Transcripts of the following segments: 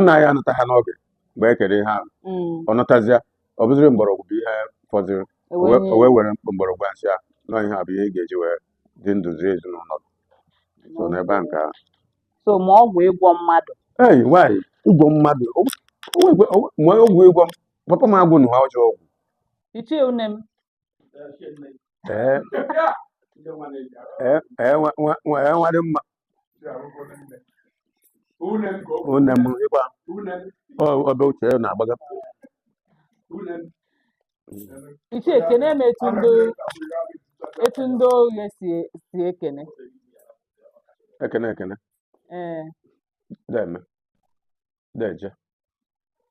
nna ya anataha n'oge mgbe e kere ihe ahụ Mm. ọ nọtazịa ọ bụziri mgbọrọgwụ bụ ihe fọdụrụ E o wee wee- nye o wee were mgbọrọgwụ a sị ya na ihe a bụ ihe ị ga-eji wee dị ndụ zie ezinụlọ gị. so n'ebe a nke ahụ so ma ọgwụ ịgwọ mmadụ ei nwaanyị ịgwọ mmadụ o- o wee gwe- o wee- ma ọgwụ ịgwọ m papa m agwụ na ha ọjọọ ọgwụ ichie une m ee ee ee nwa- nwa- nwa- ee, nwa dị mma une m ịgba ọbe uche ya na-agbaga ichie kenee m etu ndị etu ndị Oghe si si ekene ekene ekene ee deme deje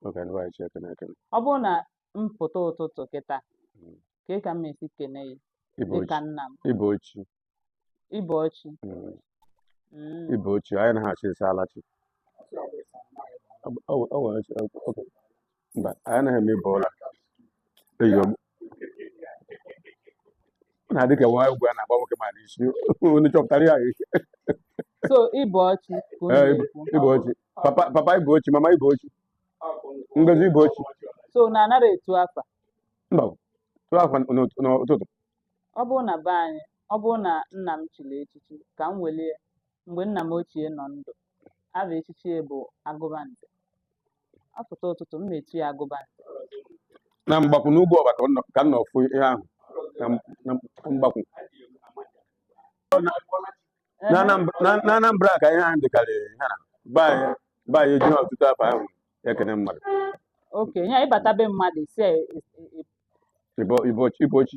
oge ndị anyị si ekene ekene ọ bụrụ na m pụta ụtụtụ kịta Mm. ka ka m esi kene ya dịka nna m ibochi ibochi mm, Mm. ibochi anyị anaha asị isalachi o nwere ochi- o- o- mba anyị anaghị eme ịbọọla eyi ọ na-adị ka nwa egwu a na-agba nwoke ma n'isi onye chọpụtara ya echi so ibochi ka onye Ee, ibo- na-ekwu ibochi papa papa ibochi mama ibochi Ngozi ibochi so na anara etu afa mba tuo afa n'ụt- n'ụtụtụ ọ bụrụ na be anyị ọ bụrụ na nna m chiri echichi ka m welie mgbe nna m ochie nọ ndụ afa echichi ya bụ agụbanze ọ pụta ụtụtụ m na-etu ya agụbanze na Mgbakwu n'Ugwuọba ka ọ nọ- ka m nọ fụ ihe ahụ na m- na m- Mgbakwu na Anambra- na- na Anambra ka ihe ahụ dịkarị ire na be anyị be anyị ejighị otutu afa ahụ ekene mmadụ oke ya ị bata be mmadụ ị sị ya e- e- e- Ibo- ibo- ibochi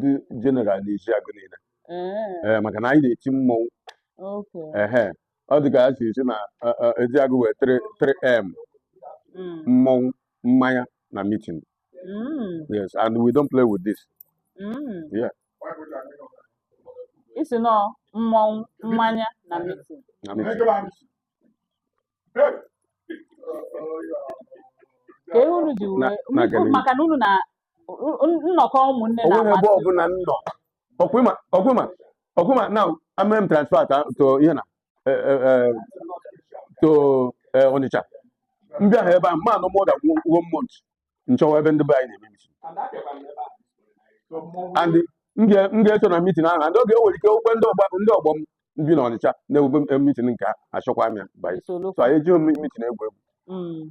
dị jeneral n'Eziagụ niile ee maka na anyị na-eti mmọnwụ ehe ọ dị ka a sị asị na Eziagụ nwee 3m mm. mmọnwụ mmanya na mitin mm. yes and we don't play with this mm. yeah ị sị na mmọnwụ mmanya na mitin ka ihe unu ji wee maka na unu na nnọkọ ụmụnne na onweghị ebe ọbụla m nọ ọkwụma ọkwụma ọkwụma na e mee m transfer to ihe na e, e, e, to Onitsha m bịahaa ebe a m ma anọ more than one month m chọwa ebe ndị be anyị na-eme mitin and m ga-eso na mitin ahụ and oge o nwere ike okwe ndị ọgba ndị ọgbọ m bi na Ọnịcha na-ewube mitin nke achọkwa m ya banye so anyị ejighị mitin egwu egwu mm.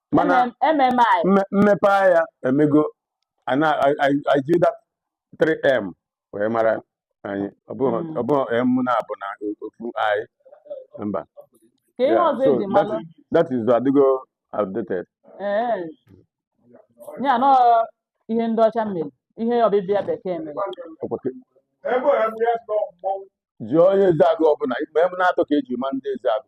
mana mmepe ahịa emego iji that 3m wee mara anyị ọ bụghị m hmm. na-abụ na ofu anyị mba that is adịgo outdated eh. ya nọ ihe ndị ọcha mere ihe ọbịbịa bekee mere jụọ onye ezeagụ ọbụla ikpe m na-atọ ka eji ma ndị ezeagụ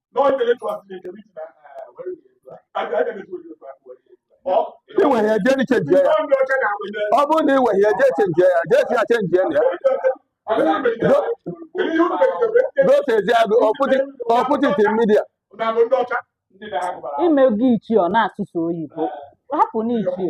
i were ya jee ni chenjie ya ọ bụrụ na i were ya jee chenjie ya jee si ya chenjie na ya dotezie bụ put it in media ime gị ichie ọ na-asụsụ oyibo hapụ na ichie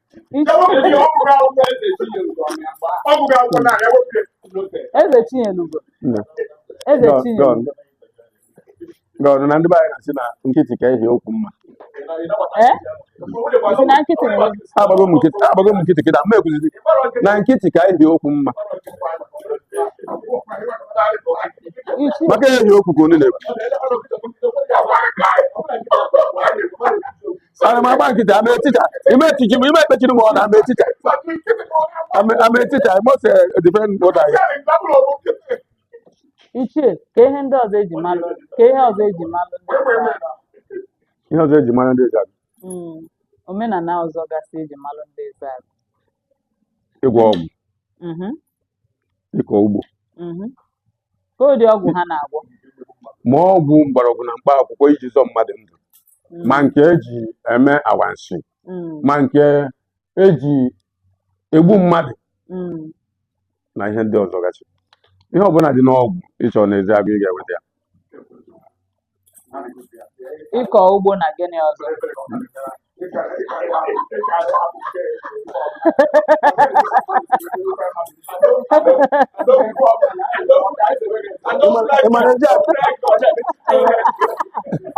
eze chinyelugo eze chinyelugo good na ndị be anyị na-asị na nkịtị ka ehi okwu mma eh? agbago m nkịtị agbago m nkịtị kịta ma ekwuzi na nkịtị ka ehi okwu mma maka ehi okwu ka onye na-ekwu ana m agba nkịtị ama etita ime etiji m ime ekpechiri m ọnụ ama etita ama etita I must defend what I ichie ka ihe ndị ọzọ eji malụ ka ihe ọzọ eji malụ ihe ọzọ eji mara ndị ezeagụ Mm, omenala ọzọ gasị eji malụ ndị ezeagụ ịgwọ ọgwụ Mhm, ịkọ ugbo mhm. ka ụdị ọgwụ ha na-agwọ ma ọgwụ mgbọrọgwụ na mkpa akwụkwọ iji zọọ mmadụ ndụ ma nke eji eme awansi ma nke eji egbu mmadụ na ihe ndị ọzọ gachi ihe ọbụla dị n'ọgwụ ị chọ n'ezeagụ ị ga-enweta ya ịkọ ugbo na gịnị ọzọ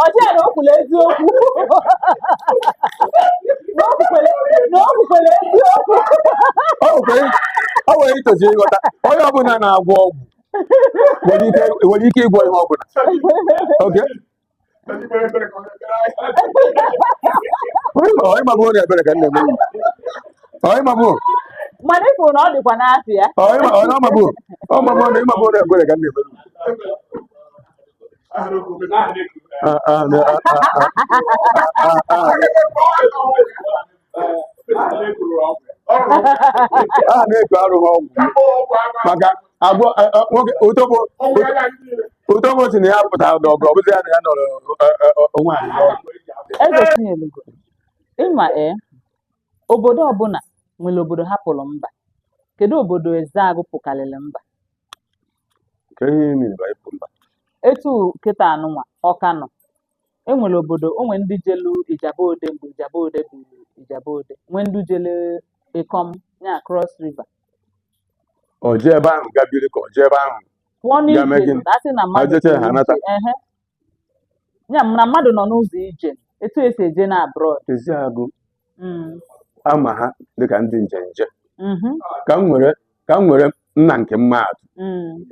ọjọọ na o kwula eziokwu na o kwukwele na o kwukwele eziokwu o nwere o nwere i tozi ịghọta onye ọbụla na-agwọ ọgwụ nwere ike nwere ike ịgwọ ihe ọbụla okay ịmabụ onye ebere ka nne m ịmabụ mana ị kwuru na ọ dịkwa n'afọ ya ọmabụ ọmabụ na ịmabụ onye ebere ka nne m a na-eku arụghị ọgwụ maka agwọ otobo Udomo si na ya pụtara n'ọgụ ọ bụzi ya na ya nọrọ eh, eh, eh, onwe anyị n'ọgụ. Eze Chinelugo, ịma ee, obodo ọbụla nwere obodo ha pụrụ mba. Kedu obodo Ezeagụ pụkarịrị mba? Ka ihe mere ba ịpụ mba. Etu kịtaa nụnwa Ọka nọ, e nwere obodo o nwere ndị jelu Ijebu Ode mgbe Ijebu Ode bụ Ijebu Ode nwee ndị jele Ikom ya Cross River o jee ebe ahụ ga biri ka o jee ebe ahụ pụọ Ya mee n'ije gịnị? a sị na mmadụ jecha jere ha anata. ije, ehe. ya na mmadụ nọ n'ụzọ ije etu esi eje na abroad Ezeagụ Mm, a ma ha dịka ndị njenje mhm, ka m nwere ka m nwere nna nke mmadụ mm,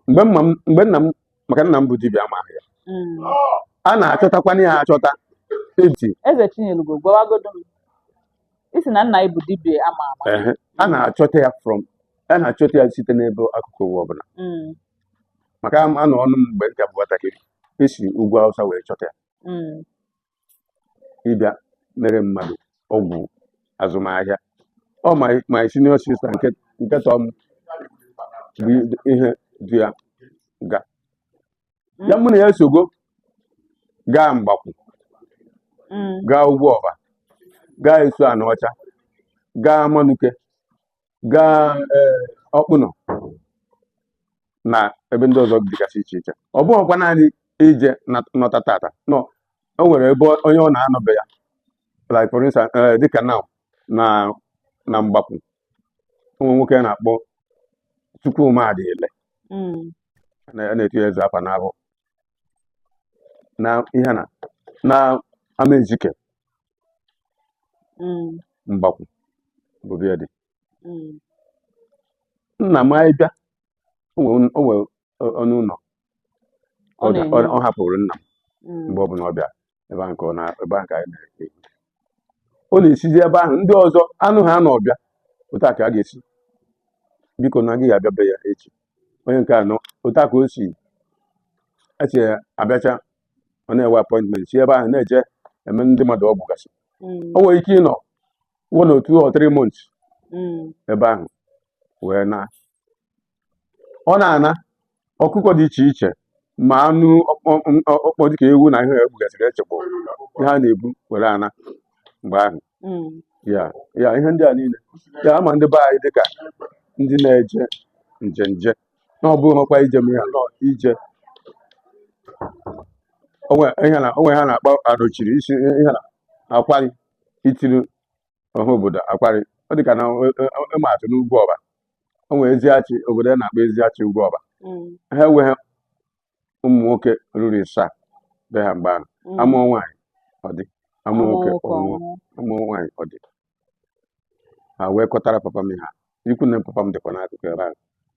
mgbe mma m- mgbe nna m maka nna m bụ dibịa a ma aha ya mm. a na-achọtakwana ya achọta eti Eze Chinyelugo gwawagodo m ị sị na nna gị bụ dibịa a ma ama a na-achọta ya from a na-achọta ya site n'ebe akụkụ ụwa ọbụla mm. maka anọ nụ m mgbe m ka bụ nwatakịrị e si ugwu Awụsa wee chọta ya mm. ịbịa mere mmadụ ọgwụ azụmahịa ọ my my senior sister nke nke tọọ m bụ ihe du ya ga ya mụ na ya esogo gaa Mgbakwu Mm. gaa Ugwuọba gaa Isuanaọcha gaa Amanuke gaa eh, Ọkpụnọ na ebe ndị ọzọ dịgasị iche iche ọ bụghịkwa naanị ije nọta taata, no, o nwere ebe onye ọ na-anọ be ya like for instance eh, dịka na na na Mgbakwu o nwere nwoke a na-akpọ Chukwuma Adịle mm. a na-etu ya eze afa n'ahụ na ihe na na Amaezike mm, Mgbakwu bụ be ya dị mm, nna m anyị bịa o nwere o nwere ọ- ọnụ ụlọ Ọ ọ ga- na-enye. ọ- ọ hapụrụ nna m mm, mgbe ọbụla ọ bịa ebe ahụ ka ọ na ebe ahụ ka anyị na-ehi. ọ na-esizi ebe ahụ ndị ọzọ anụ ha na ọ bịa otu a ka a ga-esi biko na gị abịa be ya echi onye nke anọ otu a ka o si esi abịacha ọ na-ewe appointment si ebe ahụ na-eje eme ndị mmadụ ọgwụ gasị o nwere ike ịnọ one or two or three months ebe ahụ wee na ọ na-ana ọkụkọ dị iche iche ma anụ ọkpọ dịka ewu na ihe e gbugasịrị echekpọ ihe a na-ebu were ana mgbe ahụ ya ya ihe ndị a niile ya a ma ndị be anyị dịka ndị na-eje njenje na ọ bụghị ọkwa ije m ya nọ ije o nwe ihe a na-akpọ adochiri isi ihe na akwari itiri ọha obodo akwari ọ dị ka na ịma atụ n'ugwuọba o nwere eziachi obodo a na-akpọ eziachi ugwuọba Mm. ha enweghị ụmụ nwoke ruru ịsaa be ha mgbe ahụ Mm. a mụọ nwaanyị ọ dị a mụọ nwoke ọ nwụọ ọnwụ. a mụọ nwaanyị ọ dị ha wee kpọtara papa m ha ikwu na papa m dịkwa n'akụkụ ebe ahụ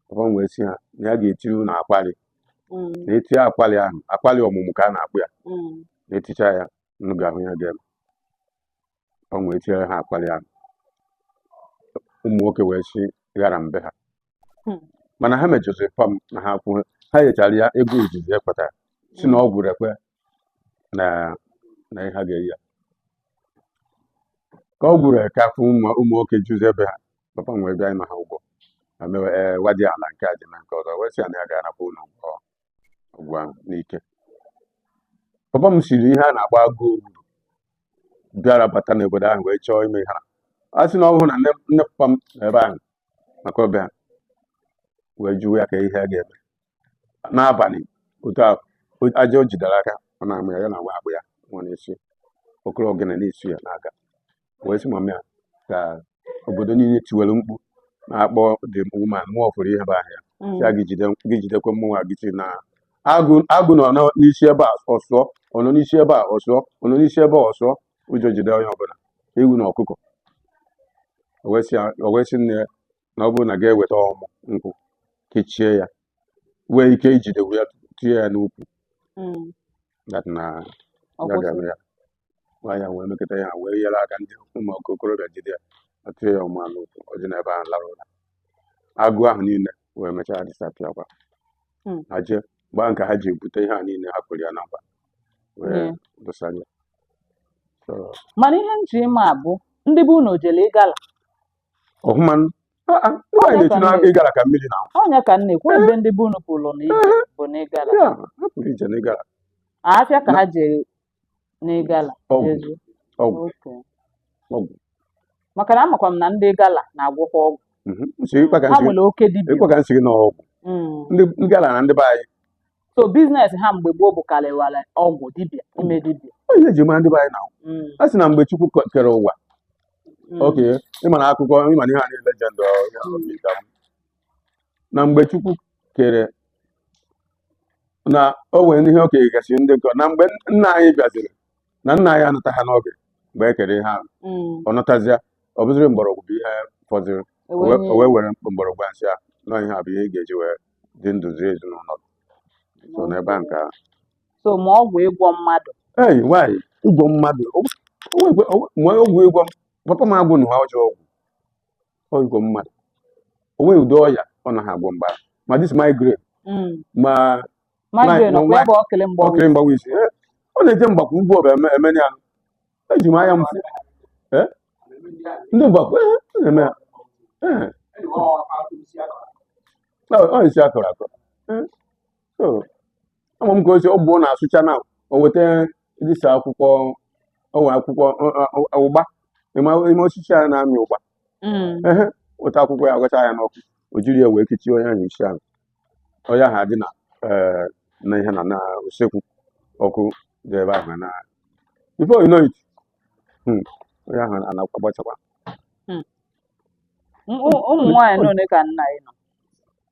papa m wee sị ha na ya ga-eti unu akwali mm. na e tinye akwali ahụ akwali ọmụmụ ka a na-akpọ ya mm. na e ticha ya unu ga-ahụ ihe ga-eme papa m wee tinyere ha akwali ahụ ụmụ nwoke wee si ghara na be ha hmm. mana ha mejọziri papa m na ha kwụọ ha nyechara ya ego izizi e kpatara sị na ọgwụ rekwe na na ihe ha ga-enye ya ka ọgwụ rekwe afọ ụmụ ụmụ nwoke juzi be ha papa m wee bịa ịna ha ụgwọ ma mewe ee gwa dị ala nke a dị na nke ọzọ wee sị ya na ya ga-anapụ unu ọgwụ ahụ n'ike papa m siri ihe a na-akpọ agụ ogburu bịara bata n'obodo ahụ wee chọọ ime ihe a a sị na ọ bụrụ na nne nne papa m nọ ebe ahụ maka ọbịa wee jụwa ya ka ihe a ga-eme n'abalị otu a o- aja o jidere aka ọ na-amụ ya ya na nwa akpụ ya nwa na-esi okoro ogene na-esi ya n'aka wee sị mama ya ka obodo niile tiwere mkpu na-akpọ the woman mụọ fụrụ ihe bụ ahịa sị ya gị jide gị jidekwe mmụnwa gị sị na agụ agụ nọ nọ n'isi ebe a ọ sụọ ọ nọ n'isi ebe a ọ sụọ ọ nọ n'isi ebe a ọ sụọ ụjọ jide onye ọbụla ewu na ọkụkọ o wee sị ya- o wee sị nne ya na ọ bụrụ na gị eweta ọmụ nkwụ kechie ya nwee ike ijide wee tinye ya n'ukwu mm. that na ya ga-eme ya nwaanyị wee mekọta ya wee nyere aka ndị ụmụ okorobịa jide ya na-etinye ya ọmụ n'ukwu o dina ebe ahụ lara ụra agụ ahụ niile wee mechaa disappear kwa hmm. ha jee gbaa nke ha ji ebute ihe a niile ha kwere ya na nkwa wee dosa ya mana ihe m ji ịma bụ ndị be unu jele ịgala ọhụma nwaanyị na-eti na ịgala ka mmiri na ọnya ka m na-ekwu ebe ndị be unu pụrụ na ije bụ na ịgala ya ha pụrụ ije na ịgala afịa ka ha jere na ịgala ọgwụ ezu ọgwụ oke ọgwụ maka na amakwa m na ndị ịgala na-agwọkwa ọgwụ Mhm. ha nwere oke dibịa ịkpa ka nsị na ọgwụ Mm, ndị ndị ịgala na ndị be anyị so biznes ha mgbe gboo bụkarịwara ọgwụ dibịa ime dibịa Ọ ihe eji mara ndị be anyị na Mm, a sị na mgbe chukwu kọ- kere ụwa mm, oke ịma na akụkọ ịma na ihe a niile legend ọ, ya, ọ dị ka m. na mgbe chukwu kere na o nwere ihe o kenyegasị ndị nkọ na mgbe nna anyị bịaziri na nna anyị anataha n'oge mgbe e kere ihe ahụ mm. ọ natazịa ọ bụziri mgbọrọgwụ bụ ihe fọziri o Ewe wee- nye- o wee were mgbọrọgwụ a sị a na ihe a bụ ihe ị ga-eji wee dị ndụ zụọ ezinụlọ gị. so n'ebe a nke ahụ so ma ọgwụ ịgwọ mmadụ Hey, nwaanyị ịgwọ mmadụ o- o nwekwe- o- ma ọgwụ ịgwọ m- papa m agwọnaha ọjọọ ọgwụ ọ ịgwọ mmadụ o nweghị ụdị ọya ọ naghị agwọ mgba ma dis migraine Mm. ma migraine ma ọkwa ya nwa- bụ okili mgbawa okiri mgbawa isi Eh, ọ na-eje mgbakwu ugwuọba eme- emeni ya eji m anya m fụ Eh? ndị mgbakwu eh, a na-eme ya Eh, na ọ isi akọrọ akọ Eh, so ama m ka o si ọ bụ na a sụcha na o weta dis a akwụkwọ ọwa akwụkwọ ọ- ọ- ọ- ụgba ịma ime osisi a na-amị ụgba Mm. ehe weta akwụkwọ ya ṅacha ya n'ọkụ o jiri ya wee kechie onye ahụ isi ahụ onye ahụ adina eh, na ihe na na usekwu ọkụ dị ebe ahụ na before you know it hmm, onye ahụ anakwa gbachakwa M- ụ- ụmụ nwaanyị na one ka nna ị nụ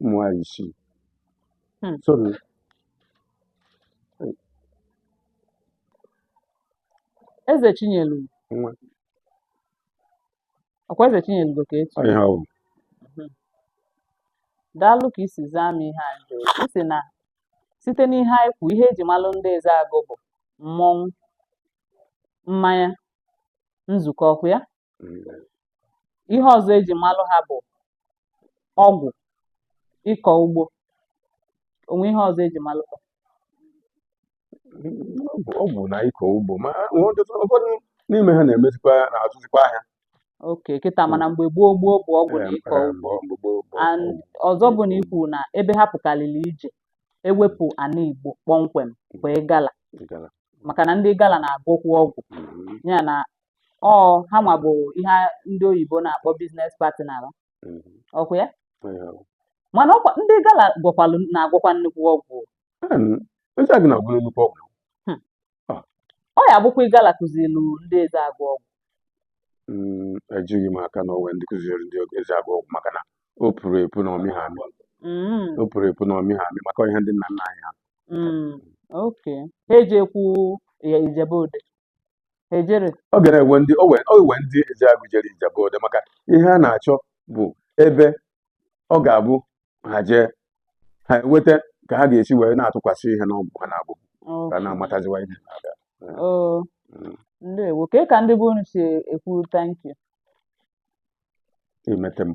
ụmụ nwaanyị isii Hmm. sorry eze chinyelu nwa ọkwa eze chinyelugo ka e chi Ihe ọ bụ. daalụ ka i si zaa m ihe anyị jụrụ gị. ị sị na site n'ihe anyị kwu ihe eji malụ ndị ezeagụ bụ mmọnwụ mmanya nzukọ ọkwa ya ihe ọzọ eji malụ ha bụ ọgwụ ịkọ ugbo o nwe ihe ọzọ eji malụ ha ọgwụ na ịkọ ugbo ma nwee ọtụtụ ụfọdụ n'ime ha na-emezikwa na-azụzikwa ahịa oke kịta mana mgbe gboo gboo bụ ọgwụ na ịkọ Ee, ugbo mgbe gboo bụ and ọzọ bụ na i kwu na ebe ha pụkalịlị ije ewepụ ana igbo kpọmkwem bụ igala igala. maka na ndị igala na-agwọkwu ọgwụ Mhm. ya na ọ ha nwa bụ ihe ndị oyibo na-akpọ biznes partner mm. ọkwa ya mana ndị igala gwọkwalụ na-agwọkwa nnukwu ọgwụ hmm. ah. ọ ya-abụkwa igala kụzilu ndị ezeagụ ọgwụ mm, ejighị m aka na o nwe ndị kụziri ndị ezeagụ ọgwụ maka na o puru epu na ọ mị ha amị mm. o puru epu na ọ mị ha amị maka ihe ndị nna nna anyị ha mm. oke ha ejekwu ijebu ode ejere ọ gara enwe ndị o wee o wee ndị Ezeagụ jere Ijebu Ode maka ihe a na-achọ bụ ebe ọ ga-abụ ha jee ha eweta ka ha ga-esi wee na-atụkwasị ihe n'ọgwụ ha na-abụ ka na-amataziwa ihe na-aga oo Mm. ndewo ka ka ndị be unu si ekwu thank you imete m